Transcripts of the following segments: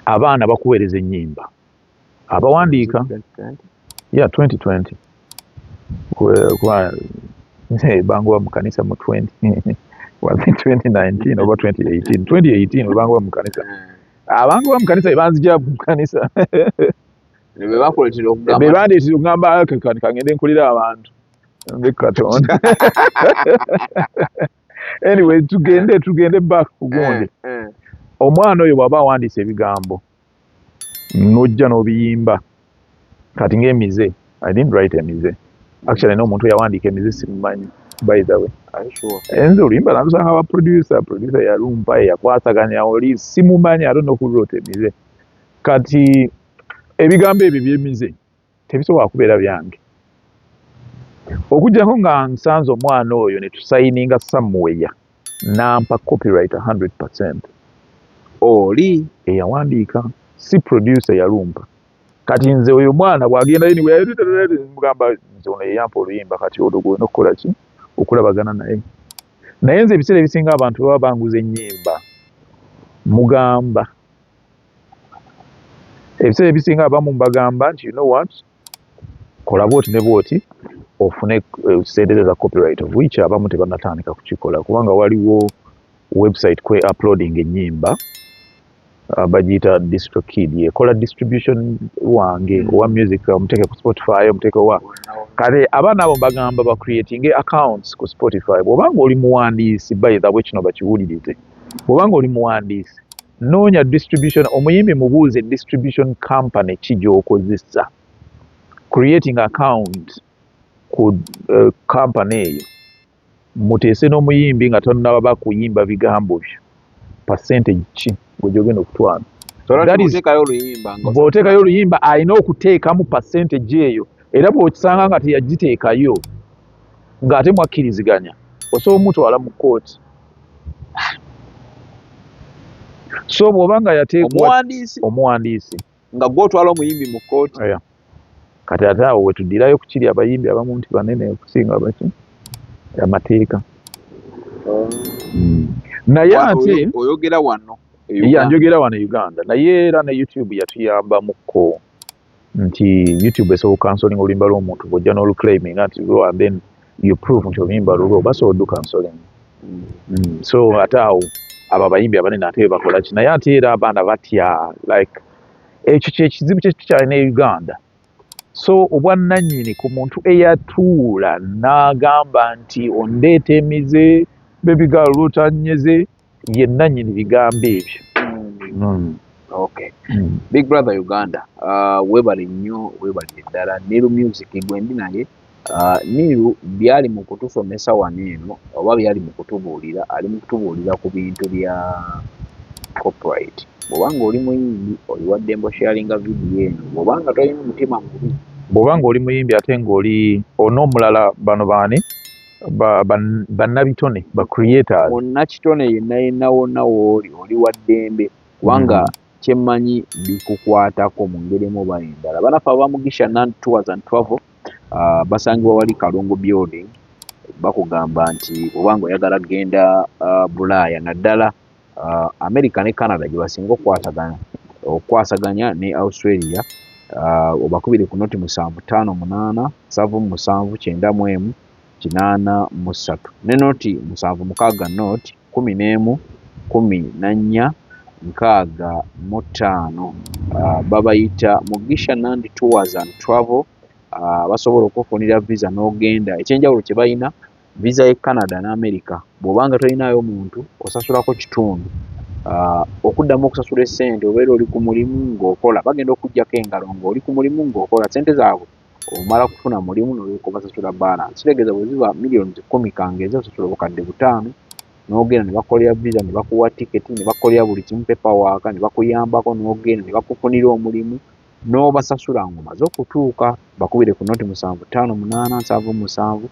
abaana bakuweereza ennyimba abawandiika ya 2020 banguba mu kanisa mu 2019 oba 2018 2018 webanguba mu kanisa abantu ba mu kanisa bebanzija ku kanisa bebandeetera okugamba kangende nkulira abantu ndi katonda anyway tugende eh. tugende back kugonde eh, eh. omwana oyo bwaba awandiisa ebigambo nojja n'obiyimba kati ng'emize i didn't write emize actually no omuntu yawandiika emize simumanyi by the way enze oluyimba nalusanga ba producer producer yalumpa eyakwasaganya oli simumanyi ate nokulrota emize kati ebigambo ebyo byemize tebisobola kubeera byange okujjako nga nsanze omwana oyo ne tusayininga samuweya nampa copyright 100 percent oli eyawandiika si producer yalumpa kati nze oyo mwana bwagendayo niweyamugamba nze ono yeyampa oluyimba kati olwo gwena okukola ki okulabagana naye naye nze ebiseera ebisinga abantu baba banguza ennyimba mugamba ebiseera ebisinga abamu mbagamba nti you know what kola bwoti ne bwoti ofune eh, sente za copyright of which abamu tebanatandika kukikola kubanga waliwo website kwe uploading enyimba abagiyita ah, distro kid ekola distribution wange hmm. owa music omuteeke ku spotify omuteeke wa kale abaana abo mbagamba ba creating accounts ku spotify bwobanga oli muwandiisi by the way kino bakiwulirize bwobanga oli muwandiisi noonya distribution omuyimbi mubuuze distribution company ki gyokozesa creating account ku uh, company eyo muteese n'omuyimbi nga tonaba kuyimba bigambo byo percentage ki gwegyogenda okutwala bw'oteekayo oluyimba alina okuteekamu percentage eyo era bw'okisanga nga teyagiteekayo ng'ate mwakkiriziganya osobola omutwala mu kkooti so bw'oba nga yateekwa omuwandiisi nga gwe otwala omuyimbi mu kkooti kati ate awo wetuddirayo ku kiri abayimbi abamu nti banene okusinga baki amateeka hmm. naye ate oyogera wano yanjogera wano e uganda naye era ne youtube yatuyambamukko nti YouTube esobola kansolinga oluyimba lw'omuntu bw'ojja n'oluclaiminga nti lwo and then you prove nti oluyimba lulwo basobola oddu kansolinga mm. so ate awo abo abayimbi abanene ate bebakola ki naye ate era abaana batya like ekyo kyekizibu kyetukyalina e uganda so obwannanyini ku muntu eyatuula n'agamba nti ondeeta emize bebigaalo lwotanyeze ye nanyini bigambo ebyo mm. okay mm. big brother uganda uh, webale nnyo webale eddala niru music gwendi naye uh, niru byali mu kutusomesa wano eno oba byali mu kutubuulira ali mu kutubuulira ku bintu bya copyright bwobanga oli muyimbi oli wa dembo sharinga vidiyo eno bwobanga tolina omutima mubi bwobanga oli muyimbi ate ngaoli ona omulala bano baani bannabitone ba, ba, ba creators munnakitone yenna yenna wonna wooli oli wa ddembe kubanga mm. kyemmanyi bikukwatako mu ngeri emu oba endala banaffe abamugisha nan tours and travel uh, basangibwa wali kalungu building bakugamba nti oba nga oyagala kugenda uh, bulaaya naddala uh, america ne canada gyebasinga okukwatagana okukwasaganya ne australia uh, obakubire ku noti musanvu tano munana savu musanvu kyenda mu emu kinana musatu ne noti musanvu mukaga noti kumi nemu kumi nanya nkaaga mu taano uh, babayita mugisha nandi tours and travel uh, basobola okufunira visa nogenda ekyenjawulo kyebalina Viza y'e Canada n'Amerika bw'oba nga tolinaayo muntu osasulako kitundu. Okuddamu okusasula essente obeera oli ku mulimu ng'okola, bagenda okukuggyako engalo ng'oli ku mulimu ng'okola. Ssente zaabwe omala kufuna mulimu n'olyoka obasasula bbaalansi. Kitegeeza bwe ziba miliyoni kkumi ka ng'ezi osasula obukadde butaano n'ogenda ne bakukolera viza ne bakuwa tiketi ne bakukolera buli kimu pepawaaka ne bakuyambako n'ogenda ne bakufunira omulimu. n'obasasula ng'omaze okutuuka. Bakubire ku noti musanvu ttaano munaana nsanvu musanvu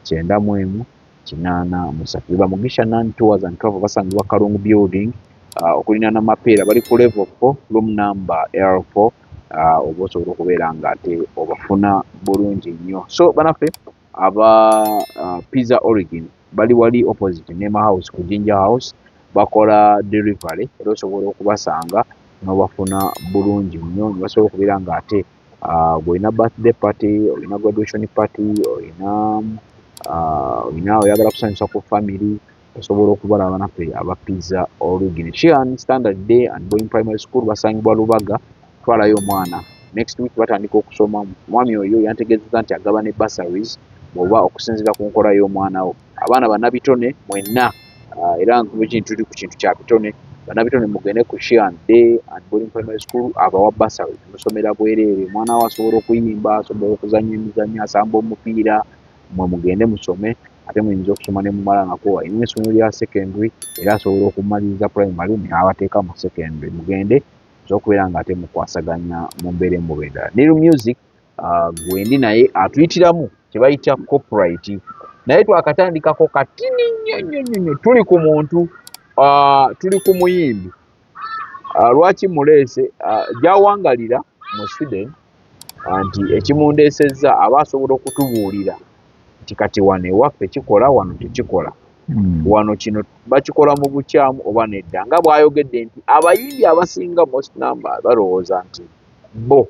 kyenda mu emu kinaana musatu. Beba Mugisha Nan Tours and Travel basangibwa Kalungu Building uh, okulinaana Mapeera bali ku level 4 room number L4 uh, oba osobola okubeera nga ate obafuna bulungi nnyo so banaffe aba uh, pizza origin bali wali opposite nema house ku ginger house bakola delivery era osobola okubasanga nobafuna bulungi nnyo nebasobola okubeera nga ate uh, olina birthday party olina graduation party olina uh, olina oyagala kusanyusa ku family osobola okubala abanafe aba pizza origin shian standard day and boying primary school basangibwa lubaga twalayo omwana next week batandika okusoma mwami oyo yantegezeza nti agaba ne bursaries oba okusinzira ku nkola y'omwana wo abaana banabitone mwenna ah, era nkubuki ntuli ku kintu kya bitone banabitone mugende ku shian day and boying primary school abawa bursaries musomera bwereere omwana wo asobola okuyimba asobola okuzanya emizanyo asamba omupiira mwe mugende musome ate muyinza okusoma ne mumala nga kwowa ina esomero lya secondary era asobola okumaliriza primary neabateeka mu secondary mugende nza okubeera nga ate mukwasaganya mu mbeera emuba endala neru music uh, gwendi naye atuyitiramu kyebayita copyright naye twakatandikako katini nnyo nnyo nnyo nnyo tuli ku muntu uh, tuli ku muyimbi uh, lwaki muleese uh, gyawangalira mu sweden nti ekimundeesezza aba asobola okutubuulira nti kati wano ewaffe kikola wano tekikola hmm. wano kino bakikola mu bukyamu oba nedda nga bw'ayogedde nti abayindi abasinga most number balowooza nti bo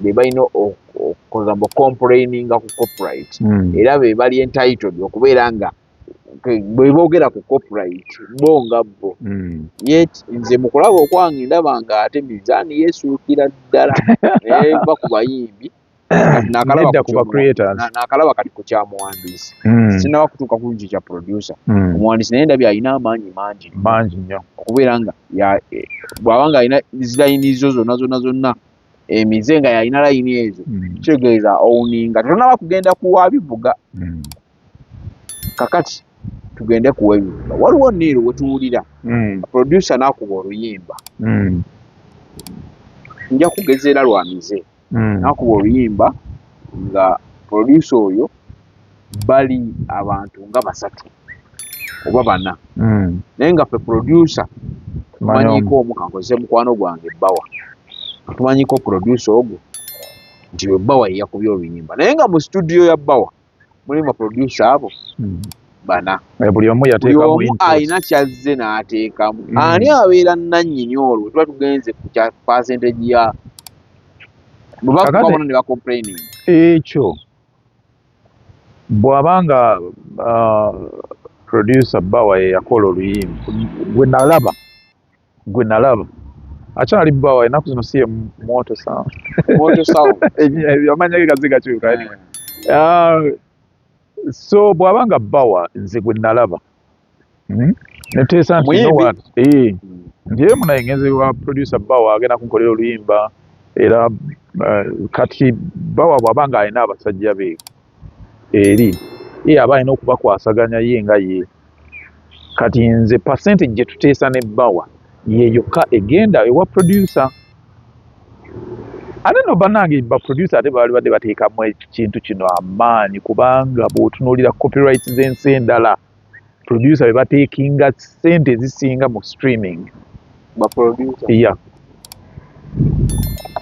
be balina okukoza mbu complaininga ku copyright hmm. era be bali entitled okubeera nga bwe boogera ku copyright bo nga bo hmm. yet nze mu kulaba okwange ndaba nga ate mizaani yeesuukira ddala eva ku bayimbi nakalaba kati ku kya muwandiisi hmm. sinaba kutuuka ku kyo kya producer hmm. omuwandiisi naye ndabye alina amaanyi mangi mangi nnyo okubeera nga eh, bw'aba nga alina zilayini zo zonna zonna zonna emize nga yalina layini ezo kitegeeza owuninga tetonaba kugenda kuwabivuga kakati tugende kuweyimba waliwo niiro wetuwulira mm. producer nakuba oluyimba mm. nja kugezeera lwamize mm. nakuba oluyimba nga producer oyo bali abantu nga basatu oba bana mm. naye nga fe producer tumanyiko omu kankozese mukwano gwange ebbawa tumanyiko producer ogwo nti webbawa yeyakubya oluyimba naye nga mu studio ya bbawa mulimu baproducer abo hmm. bana eh, buli omu alina kyazze n'ateekamu hmm. ani abeera nannyini olwo tuba tugenze ku kya percentage ya bwebakubabona ne bacomplaining ekyo bw'aba nga ah, producer bawa yeyakola oluyimba gwe nalaba gwe nalaba akyali bbawa enaku zino siye mwoto amanya ge gaze gakyuka eh. ah, so bwaba nga bbawa nze gwe nalaba hmm? neteesa nti eh, nti emu naye ngenze wa producer bbawa agenda kunkolera oluyimba era eh, kati bbawa bwaba nga alina abasajja be eri ye aba alina okubakwasaganya ye nga ye kati nze pasente gyetuteesa ne bawa yeyokka egenda ewa producer ate no banange ba producer ate baali badde bateekamu ekintu kino amaanyi kubanga bwotunuulira copyright z'ensi endala producer bebateekinga sente ezisinga mu streaming ba producer yeah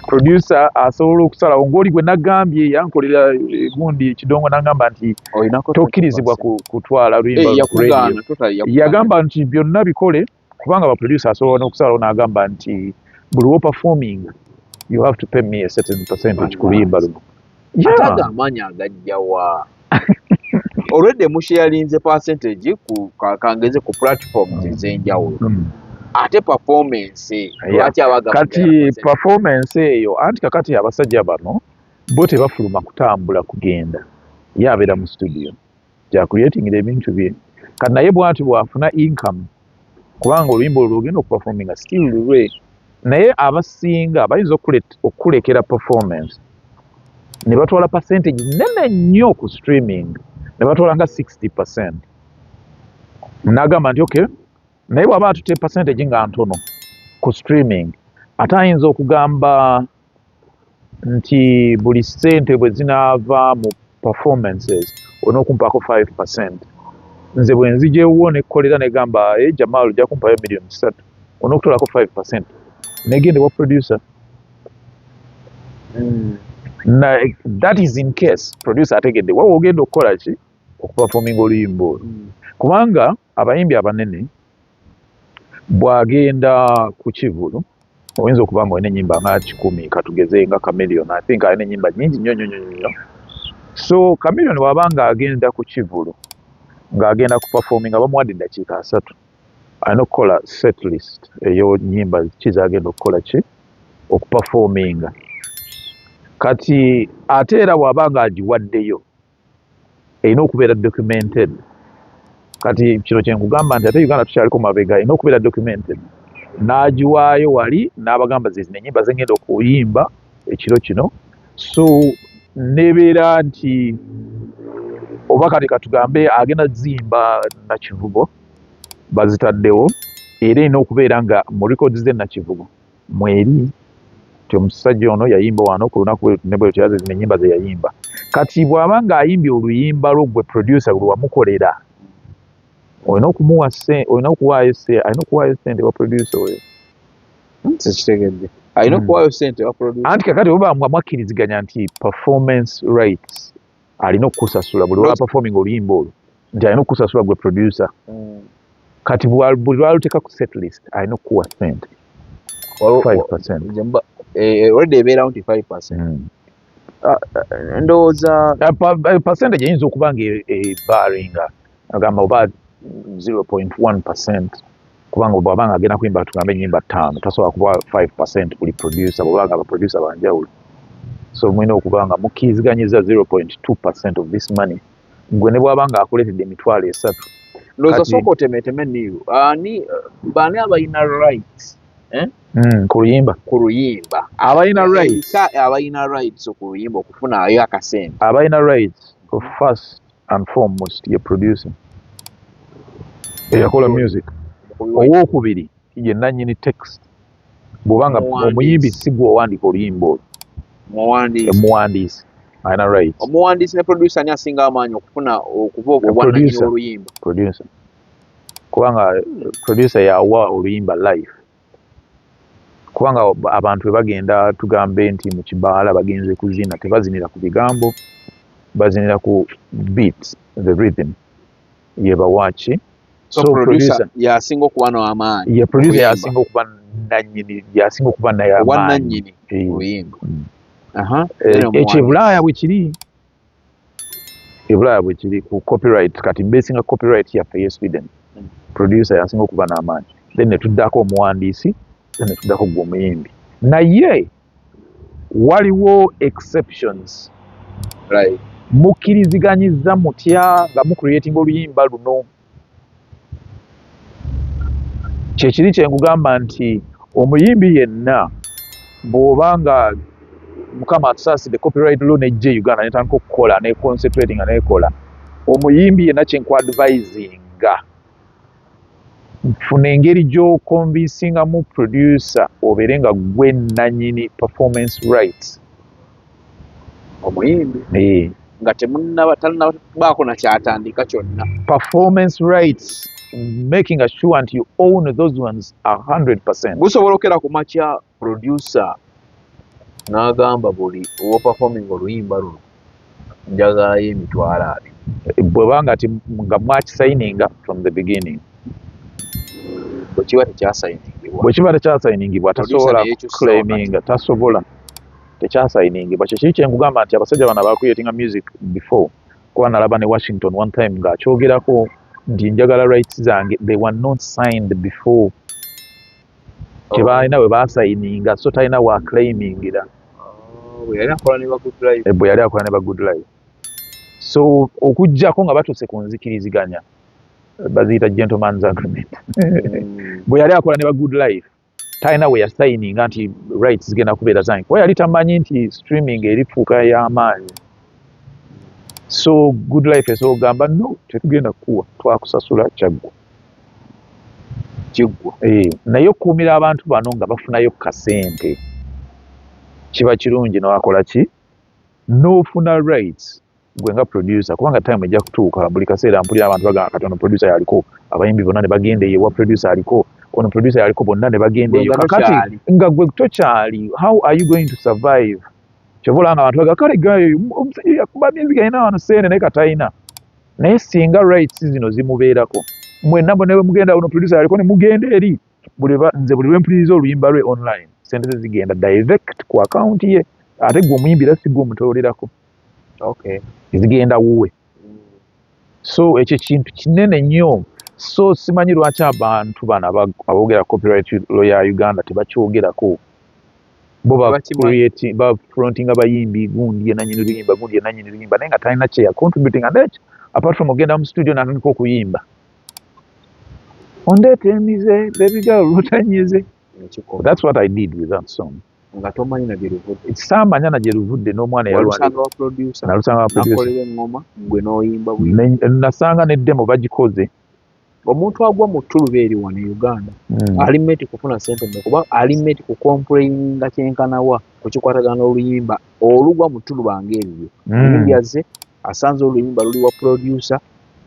producer asobola okusala ogoli gwe nagambye yankolera eh, gundi ekidongo nangamba nti tokkirizibwa kutwala luyimbayagamba eh, nti byonna bikole kubanga ba producer asobola nokusalawo nagamba nti buli wo performing you have to pay me a certain percentage ku luyimba luno ate ago amaanyi agajja wa olwedde musheyalinze percentage ku kangeze ku platforms ez'enjawulo hmm. ate performance lwaki abaga kati performance eyo anti kakati abasajja bano bo tebafuluma kutambula kugenda ye abeera mu studio gya creatingira ebintu bye kati naye bwati bwafuna income kubanga oluyimba olwo lwogenda okuperforminga still lulwe naye abasinga bayinza okukulekera performance ne batwala percentage nene nnyo ku streaming ne batwala nga 60 percent nagamba nti okay naye bwaba atute percentage nga ntono ku streaming ate ayinza okugamba nti buli sente bwezinaava mu performances olina okumpaako five percent nze bwenzija ewuwo nekolera negamba eeh Jamal oja kumpayo million satu olina okutolako five percent negenda ewa producer mm. na that is in case producer ategedde wa wogenda okukola ki okuperforminga oluyimba olwo mm. kubanga mm. Abayimbi abanene bw'agenda ku kivulu oyinza okuba nga olina ennyimba nga kikumi katugeze nga Chameleone I think alina ennyimba nnyingi nnyo nnyo nnyo nnyo so Chameleone bw'aba ng'agenda ku kivulu ng'agenda ku performing nga bamuwadde eddakiika asatu alina okukola set list eyo nnyimba ki z'agenda okukola ki okuperforminga kati ate era bw'aba ng'agiwaddeyo erina okubeera documented kati kino kyenkugamba nti ate uganda tukyaliko mabega erina okubeera documented n'agiwaayo wali n'abagamba zezino enyimba zengenda okuyimba ekiro kino so nebeera nti oba kati katugambe agenda zimba nakivubo bazitaddewo era erina okubeera nga mu records ze nakivubo mweri nti omusajja ono yayimba wano ku lunaku bweruti ne bweruti era zezino ennyimba ze yayimba kati bw'aba nga ayimbye oluyimba lwo gwe producer lwe wamukolera olina okumuwa olina okuwaayo alina okuwaayo sente wa producer oyo tekitegedde alina hmm. okuwaayo sente wa producer anti kakati oba nga mwakkiriziganya nti performance rights alina okukusasula buli lwa performing oluyimba olwo nti alina okukusasula gwe producer mm. kati buli lwaluteka ku set list alina okukuwa sente olwedde ebeerawo nti 5 percent mm. ah, eh, ndowooza eh, percentage eyinza okuba nga ebaringa eh, agamba oba 0.1 percent kubanga bwaba nga agenda kuyimba tugambe enyimba ttaano tasobola kuba 5 percent buli producer bwaba nga abaproducer banjawulo so mulina okuba nga mukkiriziganyizza 0.2 percent of this money gwe ne bwaba nga akuleetedde emitwalo esatu loza soko temeteme niyo ani bani abayina right eh? mm, ku luyimba ku luyimba abayina right ka abayina right so ku luyimba okufuna ayo akasente abayina right of first and foremost ye producer eyakola music owokubiri ye nanyini text bwoba nga omuyimbi si gwe owandiika oluyimba olwo omuwandiisi alina right omuwandiisi ne producer ani asinga amaanyi okufuna okuba obwananyini oluyimba kubanga producer yawa oluyimba life kubanga abantu bwe bagenda tugambe nti mu kibaala bagenze kuzina tebazinira ku bigambo bazinira ku beat the rhythm yebawaki yasinga okuba namaanyi ye producer yasinga okuba nanyini yasinga okuba nayamaanyi mm. ekyebulaaya bwekiri ebulaya bwekiri ku copyright kati besinga copyright yaffe ye sweden producer yansinga okuba n'amaanyi then netuddako omuwandiisi then netuddako gwe omuyimbi naye waliwo exceptions right. mukkiriziganyiza mutya nga mucreatinga oluyimba luno Kyekiri kye nkugamba nti omuyimbi yenna bw'oba nga Mukama atusaasidde copyright law n'ejja e Uganda n'etandika okukola ne concentrate nga n'ekola omuyimbi yenna kye nkwadvisinga funa engeri gy'okonvinsingamu producer obeere nga gwe nnanyini performance rights. omuyimbi eh. nga temunaba talinabaako nakyatandika kyonna performance rights making assure nti you own those ones a 100 percent gusobola okera ku makya producer n'agamba buli owoperforming oluyimba luno njagalayo emitwalo abiri bwebanga ti nga mwakisayininga from the beginning bwekiba tekyasayiningibwa bwekiba tekyasayiningibwa tasobola claiminga tasobola tekyasayiningibwa kyekiri kyenkugamba nti abasajja bano abacreatinga music before kuba nalaba ne washington one time nga akyogerako nti njagala rights zange they were not signed before kyebalina oh. bwe basayininga so talina wa claimingira oh, bwe yali akola ne ba good life eh, so okujjako nga batuuse ku nzikiriziganya baziyita gentleman's agreement hmm. bwe yali akola ne ba good life talina we yasayininga nti rights zigenda kubeera zange kuba yali tamanyi nti streaming erifuuka y'amaanyi so good life esobola kugamba no tetugenda kukuwa twakusasula kyaggwa kiggwa eh, naye okukuumira abantu bano nga bafunayo kasente kiba kirungi nowakola ki n'ofuna rights gwe nga producer kubanga time ejja kutuuka buli kaseera mpulira abantu bagamba kati ono producer yaliko abayimbi bonna ne bagenda eyo wa producer aliko ono producer yaliko bonna ne bagenda eyo kakati nga gwe tokyali how are you going to survive kyova olanga abantu baga kale gayo omusajja yakuba music alina wano seene naye katalina naye singa rights zino zimubeerako mwenna mwe ne mugenda ono producer yaliko ne mugenda eri nze buli lwempuliriza oluyimba lwe online sente ze zigenda direct ku akawunti ye ate gwe omuyimbi era si gwe omutololerako zigenda wuwe so ekyo kintu kinene nnyo so simanyi lwaki abantu bano aboogera copyright lawyer ya uganda tebakyogerako bo bafrontinga bayimbi gundi yenanyini luyimba gundi yenanyini luyimba naye nga talina kyeya contributing and ekyo apart from ogenda mu studio natandika okuyimba ondeeta emize bebigal lutanyize that's what i did with that song nga tomanyi na gyeruvudde samanya na gyeruvudde n'omwana yalusanga wa producer nalusanga wa producer nakolera engoma gwe n'oyimba buli nasanga ne demo bagikoze omuntu agwa mu ttuluba eri wano e uganda hmm. ali meti kufuna sente me kuba ali meti ku kompulayinga kyenkanawa ku kikwatagana n'oluyimba olugwa mu ttuluba ng'eryo yimbyazze hmm. asanze oluyimba luli wa producer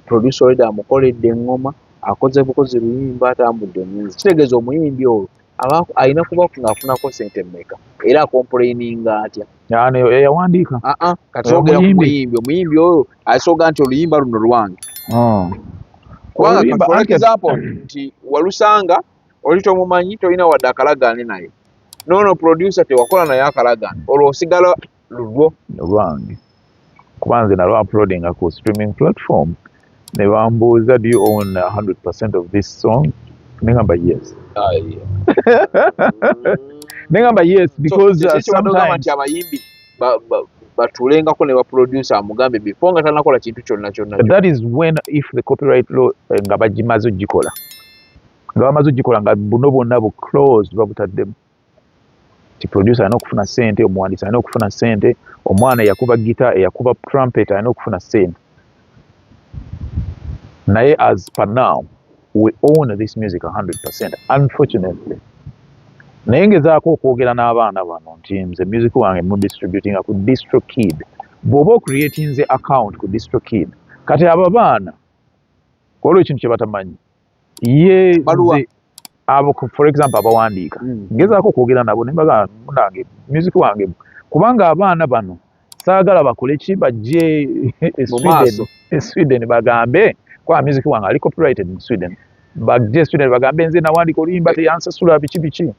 producer oleda amukoledde eŋŋoma akoze bukozi luyimba atambudde omuyizi kitegeeza omuyimbi olwo aba alina kuba ng'afunako sente mmeka era akompuleyininga atya yawandiika aa kati ogera ku muyimbi omuyimbi oyo asooga nti oluyimba luno lwange oh. kubanga katwala example nti walusanga oli tomumanyi tolina wadde akalagaane naye noono producer tewakola naye akalagaane olwo osigala lulwo nolwange kuba nze nalwa uploadinga ku streaming platform ne bambuuza do you own 100% of this song ne ngamba yes ah, ne ngamba yes because uh, sometimes abayimbi batulengako ne baproducer amugambe before nga tanakola kintu kyonna kyonna that is when if the copyright law eh, nga bagimaze ogikola nga bamaze ogikola nga buno bwonna bu close babutaddemu nti producer alina okufuna sente omuwandiisi alina okufuna sente omwana eyakuba gita eyakuba trumpet alina okufuna sente naye as per now we own this music 100 percent unfortunately naye ngezaako okwogera n'abaana bano nti nze music wange mu distributinga ku distro kid bw'oba ocreatinze account ku distro kid kati abo abaana kwaliwo ekintu kye batamanyi ye abo for example abawandiika mm. ngezaako okwogera nabo nembaga munange music wange kubanga abaana bano saagala bakole ki bajje e sweden e bagambe kwa music wange ali copyrighted mu sweden bajje e sweden bagambe nze nawandiika oluyimba teyansasula biki biki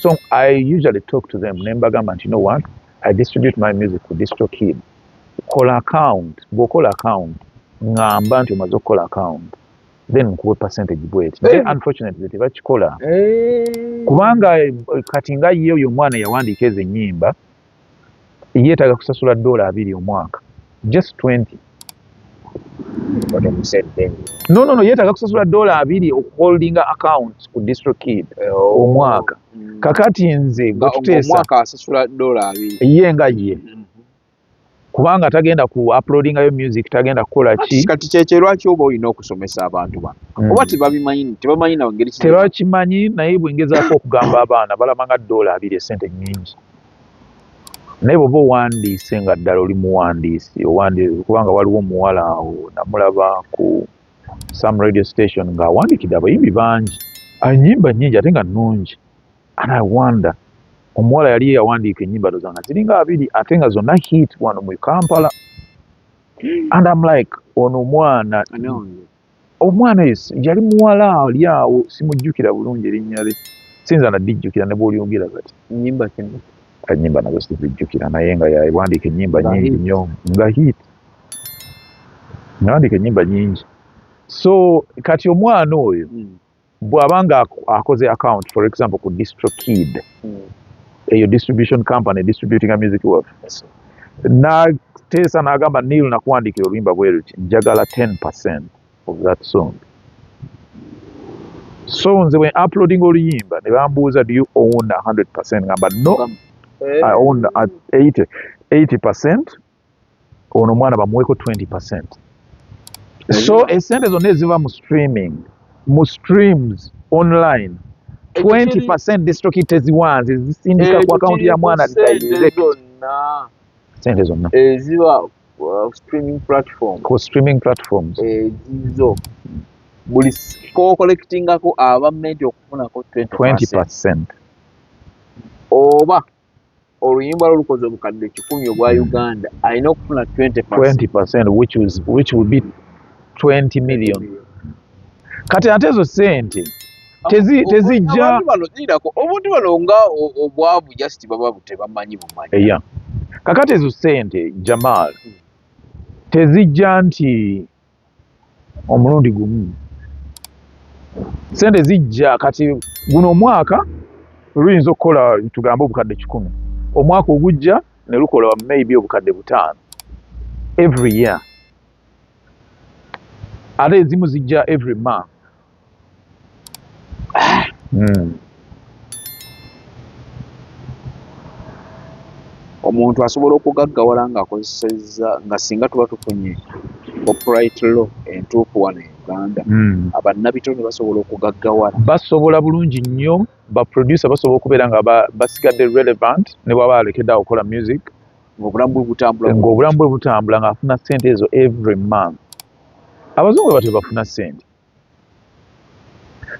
so i usually talk to them nembagamba nti no one i distribute my music ku distro kid kola account bwokola account ngamba nti omaze okukola account then nkuwe percentage bweti naye eh. unfortunately tebakikola eh. kubanga eh, kati nga ye oyo omwana yawandiika ezo ennyimba yetaga kusasula dola abiri omwaka just 20 no no no yetaga kusasula dola abiri okuholdinga account ku district kid eh, oh. omwaka mm. kakati nze gwetuteesa ye nga ye mm. kubanga tagenda ku uploadinga yo music tagenda kukola ki kati kyekye lwaki oba olina okusomesa abantu bano mm. oba tebabimanyi tebamanyi nawe ngeri tebakimanyi naye bwengezaako okugamba abaana balaba nga doola abiri esente nyingi naye bwoba owandiise nga ddala oli muwandiisi owandiise kubanga waliwo omuwala awo namulaba ku some radio station ng'awandiikidde abayimbi bangi anyimba nyingi ate nga nnungi and I wonder omuwala yali yawandiika enyimba doza nga ziringa abiri ate nga zonna hit wano mu Kampala and I'm like ono omwana omwana yali muwala ali awo simujjukira bulungi erinnya lye sinza nadijjukira ne bwolyogera kati nyimba kino enyimba nazo sizijjukira naye nga yawandiika enyimba nyingi nnyo nga hit nawandiika enyimba nyingi so kati omwana oyo mm. bwaba nga akoze account for example ku distro kid hmm. eyo distribution company distributing a music wealth nateesa nagamba nil nakuwandikira oluyimba bweruti njagala 10 percent of that song so nze bwe uploading oluyimba ne bambuuza do you own 100 percent ngamba no eh. i own 80 80 percent ono omwana bamuweko 20 percent so esente zonna eziva mu streaming mu streams online 20 percent district teziwanze zisindika ku akawunti ya mwana sente zonna eziba uh, streaming platform ku streaming platforms ezizo buli kokolekitingako aba menti okufunako 20 percent oba oluyimba lwo lukoze obukadde kikumi obwa uganda alina okufuna 20 which, was, which will be 20 million kati ate ezo sente tezijja obuntu bano nga obwavu just baba tebamanyi bumanyi yeah. kakati ezo sente jamal tezijja nti omulundi gumu sente zijja kati guno omwaka luyinza okukola tugambe obukadde kikumi omwaka ogujja ne lukola maybe obukadde butaano every year ate ezimu zijja every month hmm. omuntu asobola okugaggawala ng'akozesezza nga singa tuba tufunye copyright law entuufu wano e uganda hmm. abannabitone basobola okugaggawala basobola bulungi nnyo baproducer basobola okubeera nga basigadde relevant ne bwaba alekedde awo okukola music ng'obulamu bwe butambula ng'obulamu bwe butambula ng'afuna ssente ezo every month abazungu batyo bafuna ssente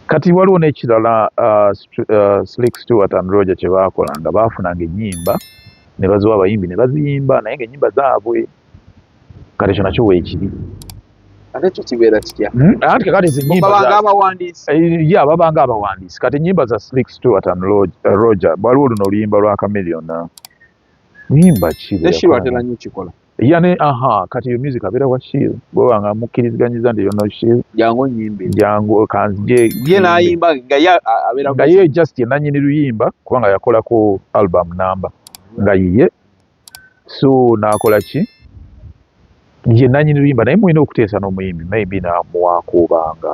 Kati waliwo n'ekirala uh, uh, Slick Stewart and Roger kye baakolanga, baafunanga ennyimba ne baziwa abayimbi ne baziyimba naye ng'ennyimba zaabwe. Kati ekyo nakyo weekiri. Ate ekyo kibeera kitya? Hmm? Anti kakati zi nnyimba babanga abawandiisi. Eh, ya babanga abawandiisi. Kati ennyimba za Slick Stewart and uh, Roger waliwo luno oluyimba lwa Chameleon. Nyimba ki? Neshirwa atera nnyo kikola. Yane aha kati yo music abera wa shield bwe wanga mukiriziganyiza ndi yono shield jango nyimbe jango kanzije ye na yimba nga ya abera nga ye just ye nanyi ni luyimba kubanga yakola ko album number nga yiye so na akola ki ye nanyi ni luyimba naye mwine okutesa no muyimbi maybe na muwakuba nga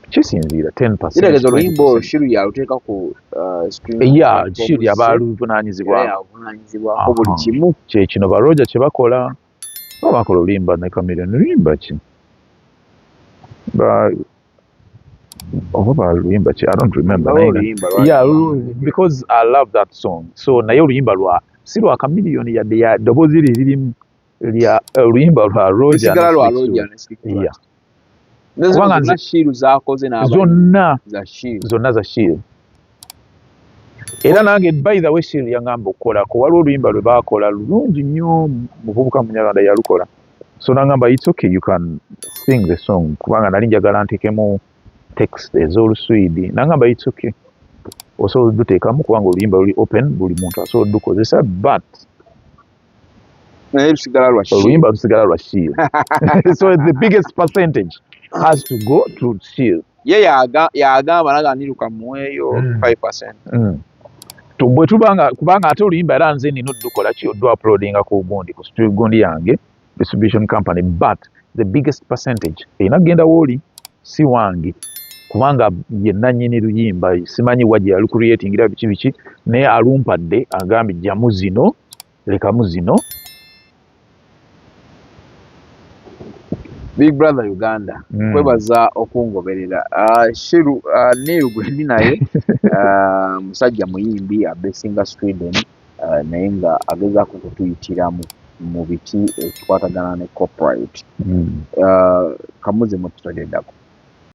kisinziira kitegeeza oluyimba olwo shiru yaluteeka ku uh, ya shiru yaba aluvunanyizibwako buli kimu kyekino baroja kyebakola o bakola oluyimba ne kamilion luyimba ki oba baluyimba ki i don't remember yeah, because i love that song so naye oluyimba lwa si lwa kamilion yadde ya ddoboozi lye lirimu lya eh, oluyimba lwa Roger na lwa Roger na Sikiwa yeah. kubanga nze shiru zakoze na zonna za shiru zonna za shiru era nange by the way shiru yangamba okukola ko waliwo oluyimba lwe baakola lulungi nnyo muvubuka munyarwanda yalukola so nangamba it's okay you can sing the song kubanga nali njagala ntekemu text ez'oluswidi nangamba it's okay osobola oduteekamu kubanga oluyimba luli open buli muntu asobola odukozesa but naye lusigala lwa shield oluyimba lusigala lwa shield so the biggest percentage has to go to shield ye yaga yagamba naga niruka mweyo 5% mm. mm. tubwe tubanga kubanga ate oluyimba era nze nino dukola ki odu uploadinga ku gundi ku studio gundi yange distribution company but the biggest percentage erina kugenda wooli si wange kubanga ye nanyini luyimba simanyi wa gye yali creatingira biki biki naye alumpadde agambye jjamu zino lekamu zino big brother uganda mm. kwebaza okungoberera uh, shiru uh, ah, neil gwendi naye uh, musajja muyimbi abesinga sweden eh, naye nga agezaako okutuyitiramu mu biki ekikwatagana ne copyright hmm. eh, kamuze mukitodeddako